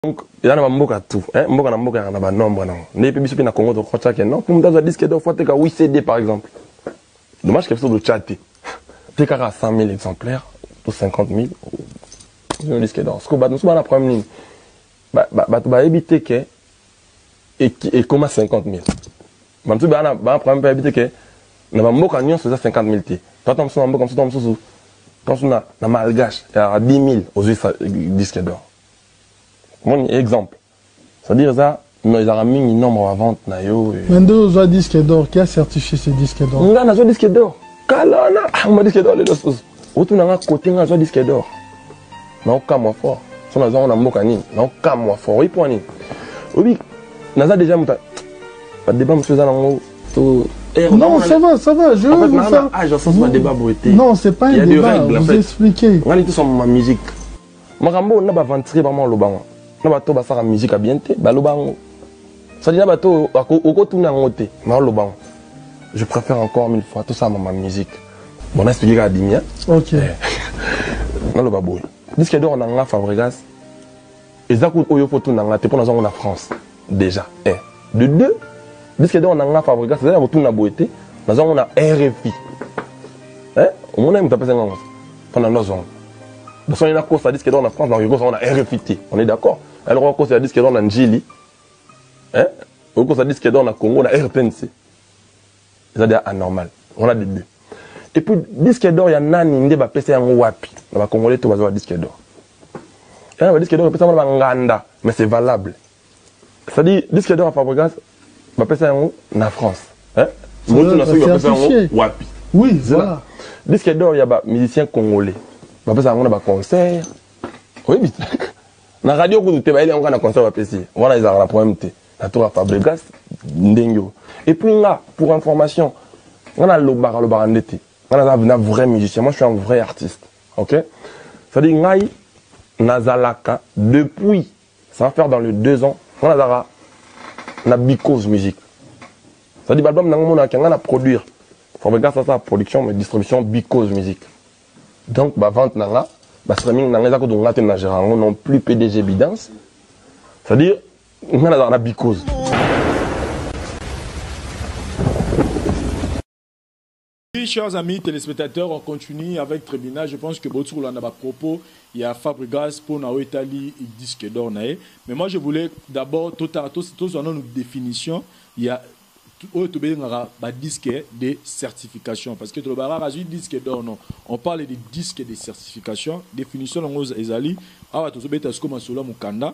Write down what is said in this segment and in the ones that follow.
donc eza na bamboka tout eh, mboka na mboka yaka na banombre nango ndenge mpe biso mpe na congo tokotya ke non mpo moto azwa diske dor fo ateka 8 cd par exemple dommage ke biso totya te te kaka 100 000 exemplaires to 50 000 zino diske dor siko bato mosusu bana problème nini bato bayebi te ke ekoma 50 000 bato mosusu bana problème mpe bayebi te ke na bamboka nyonso eza 50 000 te tata mosusu na mboka mosusu ta mosusu ta mosusu na malgache ya 10 000 ozwi diske dor Mon exemple. C'est-à-dire ça, non ils ont mis nombre à vente na yo. Mais nde ozwa disque d'or, qui a certifié ce disque d'or? Nga na zwa disque d'or. Kala na, ah ma disque d'or les deux choses. Otu na nga côté nga zwa disque d'or. Na okamwa fort. So na zwa na mboka nini? Na okamwa fort. Oui point nini? Obi na za déjà muta. Ba débat monsieur za na ngo to eh, non, ça va, ça va. Je en fait, vous faire... âge, ça, c'est pas débat beauté. Non, c'est pas un débat. Vous expliquez. On est tous en ma musique. Makambo oyo na ba aventurier ba maloba ngo. Na bato basaka musique ya bien te, baloba ngo. Sadi na bato okotuna ngo te, na oloba ngo. Je préfère encore mille fois tout ça ma musique. Bon na expliquer ka dimi hein. OK. Eh. na loba boye. Disque d'or na nga Fabregas. Eza ko oyo faut tuna nga te pona zango na France. Dejà eh de deux disque d'or na nga Fabregas eza ya kotuna boye te naza ngo na RFI eh omona moto apesa nga ngo mpo na nozongo basoni nakosa disque d'or na France nakoki kosa ngo na RFI te on est d'accord alors okosa ya disque d'or na Njili eh okosa disque d'or na Congo na RTNC eza deja anormal wana de deux et puis disque d'or ya nani nde bapesa yango wapi na bacongolais to bazwa badisque d'or yana eh, badisque d'or epesa yango na banganda mais c'est valable c'est à dire disque d'or ya fabrigas bapesa yango na france eh? motu na soki bapesa yango wapi oui voilà disque d'or ya bamusicien congolais bapesa yango na baconcert oyebi na radio kutu te bayeli yango kaka na concert bapesi wana ezalaka na problème te natonga fabregas ndenge oyo epuis nga pour information nga nalobaka lobaka nde te nga naza na vrai musicien moi je suis un vrai artiste ok cestadire ngai nazalaka depuis ça va faire dans le deux ans nga nazalaka na bicose musique cestadire baalbum nango monaka nga na produire fabregas asala production mais distribution bicose musique donc bavente na nga bastra mingi na nga eza kutu nga te na gérant yango non plus pdg bidance c'est-à-dire nga nazalaka na bikozi Oui, chers amis téléspectateurs, on continue avec Tribunal. Je pense que Botsou a à propos, il y a Fabregas pour na Italie, il dit que d'or Mais moi, je voulais d'abord, tout à tous, tous en une définition, il y a oyo tobengaka badisque de certification parce que tolobaka kaka azwi disque d'or non on parle de disque de certification définition yango ezali awa tozobeta sikoyo masolo ya mokanda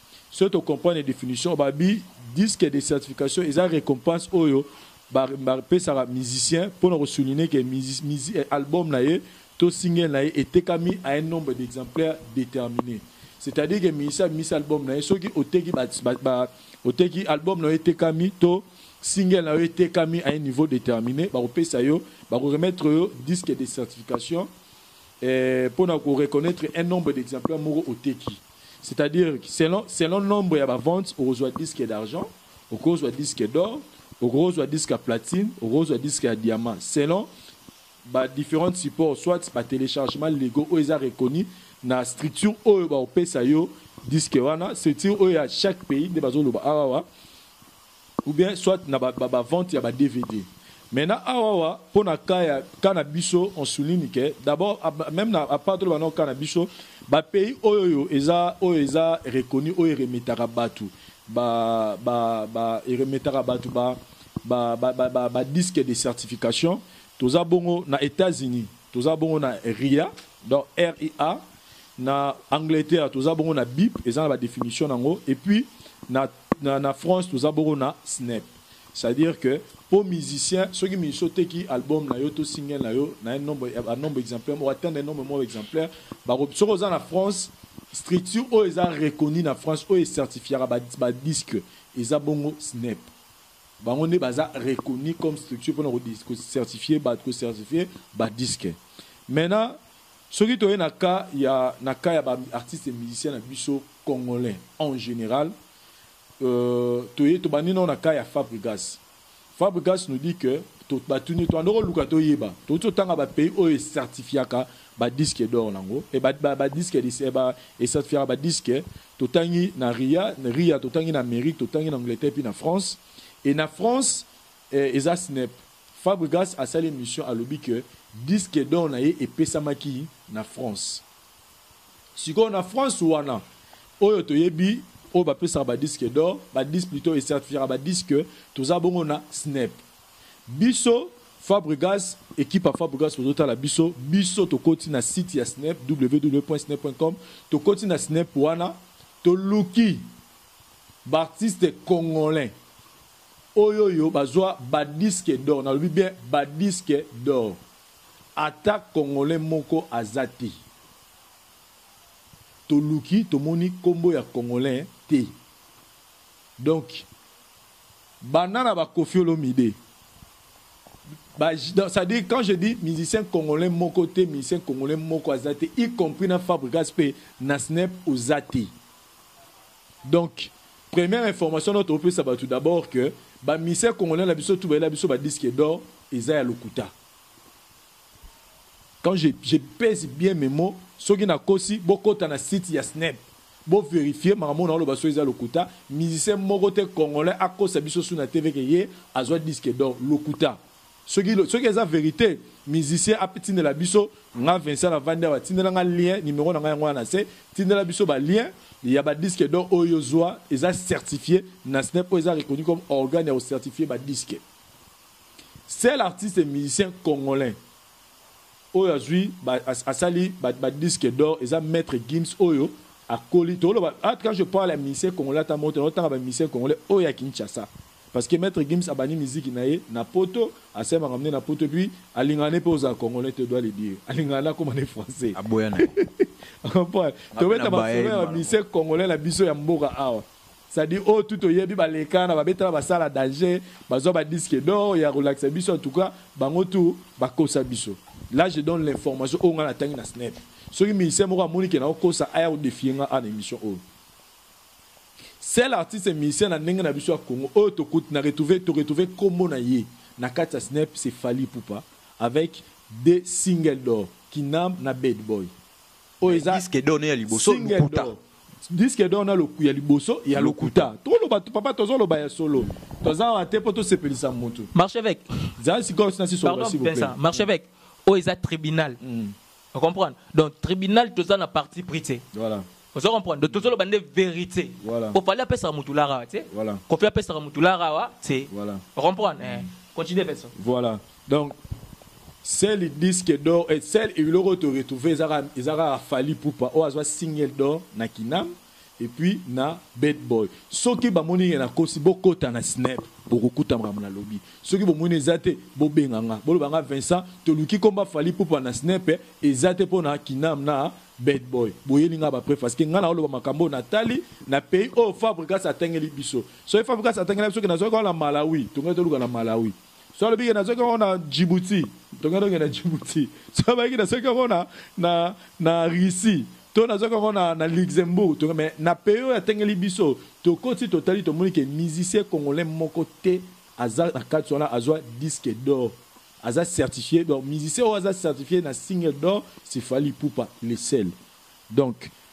Soki to comprendre definition ba bi disque de certification eza recompense oyo ba pesaka musicien pona ko souligner que eh, album na ye to single na ye etekami à un nombre d'exemplaires déterminé. C'est-à-dire que musicien mis album na ye soki oteki ba, ba, ba oteki album na yo etekami to single na yo etekami à un niveau déterminé bakopesa yo bakoremettre yo disque de certification eh, mpo na koreconnaitre un nombre d'exemplaire moko oteki C'est à dire selon selon nombre ya ba ventes okozwa disque d'argent, okozwa disque d'or, okozwa disque ya platine, okozwa disque ya diamant selon ba differentes supports soit ba telechargements lego oyo eza reconnu na structure oyo ba opesa yo disque wana structure oyo ya chaque pays nde bazoloba awa ou bien soit na ba ba vente ya ba dvd mais na awawa pona cas ya cas na biso on souligne que d'abord meme na a part toloba nao cas na biso ba pays oyoyo eza oyo eza reconnu oyo eremetaka batu ba ba ba eremetaka batu ba ba ba ba, ba, ba disque de certification toza bongo na Etats-Unis toza bongo na RIA donc RIA na Angleterre toza bongo na BIP eza na ba definition nango et puis na na na France toza boko na snep c'est à dire que po musicien soki musicien oteki album na yo to single na yo na un nombre ya nombre exemplaire o atteindre nombre moko exemplaire bako soki oza na France structure oyo eza reconnu na France oyo ecertifiaka ba, ba disque eza bongo snep bango nde baza reconnu comme structure mpona kocertifie bato kocertifie badisque maintenant Soki toye na cas ya na cas ya ba artistes musiciens na biso congolais en general euh toye tobandi nao na cas ya Fabrigas. Fabrigas nous dit que to batuni to andoko luka to yeba to to tanga ba pays oyo certifiaka ba disques d'or nango et ba ba, ba disques de eh, ba et certifiaka ba disques to tangi na RIA RIA to tangi na Amérique to tangi na Angleterre puis na France et na France eh, eza SNEP Fabregas asali emission alobi que disque d'or na ye epesamaki na France. Sikoyo na France wana oyo toyebi oyo ba pesaka ba disque d'or, ba dis plutot e certifiaka ba disque toza bongo na snep. Biso Fabregas equipe ya Fabregas bozo tala biso, biso tokoti na site ya snep www.snep.com tokoti na snep wana toluki b'artistes congolais. Oyoyo bazua ba disque d'or nalobi bien ba disque d'or ata congolais moko aza te toluki tomoni kombo ya congolain te donc banda na ba koffi olomide ba ça dit quand je dis musicien congolain moko te musicien congolain moko aza te y compris na fabrigas pe na snep oza te Donc première information nao topesa batu d'abord que ba musiciens congolais na biso tout ba yela biso ba disque d'or eza ya lokuta quand je, je pèse bien mes mots soki na kosi bokota na site ya snep bo verifier makambo na oloba soki eza lokuta musicien moko te congolais akosa biso su na tv ke ye azwa disque d'or lokuta Soki soki eza verite musicien a tindela biso nga Vincent na vandi awa tindela nga lien numero na nga yango wana na se tindela biso ba lien ya ba disque d'or oyo yo zua eza certifie na snep oyo eza reconnu comme organe ya ko certifie ba disque seul artiste musicien congolais oyo azui ba, as, asali ba, ba disque d'or eza maître Gims oyo akoli toloba ah, quand je parle ya musicien congolais ata moto na otanga ba musicien congolais oyo ya Kinshasa Parce que maitre Gims abandi miziki na ye na poto, asali makambo ne na poto et puis alingaka ne pe ozala congolais te dois le dire. Alingaka ne akoma ne français. Aboya na ye. O comprendre? Tobeta ba solo ya ba musiciens congolais na biso ya mboka awa. C'est à dire oyo tout toyebi ba leka na ba beta na ba salle ya danger, ba zwa ba disques d'or ya kolakisa biso en tout cas bango tout ba kosa biso. Là je donne l'information oyo nga na tangi na snep. Soki musicien moko amoni ke nao kosa aya ko defier nga awa na emission oyo. Seul artiste musicien na ndenge na biso ya Congo oyo to kut na retrouver to retrouver kombo na ye na kati ya snep c'est Fally Ipupa avec deux singles d'or Kinamb na Bad Boy oyo Mais eza disque d'or ne ya liboso single lokuta. d'or disque d'or na loku ya liboso ya Lokuta. lokuta to loba to papa tozo loba ya solo toza awa te po to sepelisa mutu Marcheveque, zala sikoyo sina si solo pardon, s'il vous plaît Vincent, Marcheveque, oyo eza tribunal. O comprendre? Donc tribunal toza na parti pris te. Voilà. Ozo comprendre? Donc tozo loba nde verite. Voilà. Ko fallait apesa mutu lara wa te. Voilà. Ko fi apesa mutu lara wa te. Voilà. O comprendre? Mm. Eh. Continue Vincent. Voilà. Donc sel disque d'or et sel iloko to retrouver ezaka ezaka fali pupa o azwa single d'or na kinam. Et puis na bed boy soki ba moni ke na kosi bo kota na snep boko kuta makambo na lobi soki bo moni eza te bo benga nga bo loba nga Vincent to luki komba Fally Ipupa na snep eza te pona kinam na bed boy bo yeli nga ba preuve parce que nga nao loba makambo oyo na tali na pays oyo fabrigas a tangeli biso soki fabrigas a tangeli biso ke na zwaki wana na malawi to ngai to luka na malawi so alobi ke nazoki yango na djibouti tokenda okenda djibouti so abayiki nasoki yango na, na, na russie to nazoki yango na, na luxembourg to, me na pays oyo atengeli biso tokoti totali tomoni ke musicien congolais moko te aza na kati wana azwa disque d'or aza certifie donc musicien oyo aza certifie na single d'or sifali pupa le sel donc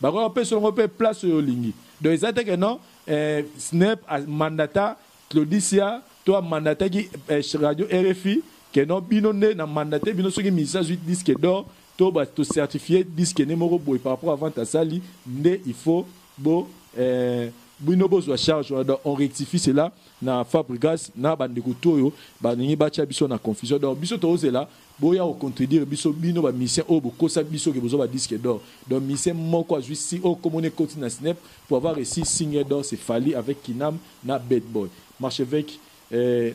Bakoki ko pesa ngo pe place oyo olingi. Donc eza te que non eh, Snep a mandata Claudicia to a mandataki eh, radio RFI que non bino nde na mandate bino soki musicien azui disque d'or to ba to certifier disque ne moko boye par rapport à vente asali nde il faut bo eh, bino bozwa charge wana donc on rectifie cela na fabrigas na bandeko toyo balingi batya biso na confusion donc biso tozela Boya ko contredire biso bino ba musiciens oyo bokosa biso ke bozua ba disque d'or donc musicien moko azui si oyo kombo naye ekoti na snep pour avoir reusi signe d'or c'est fally avec kinam na bad boy marcheveque eh,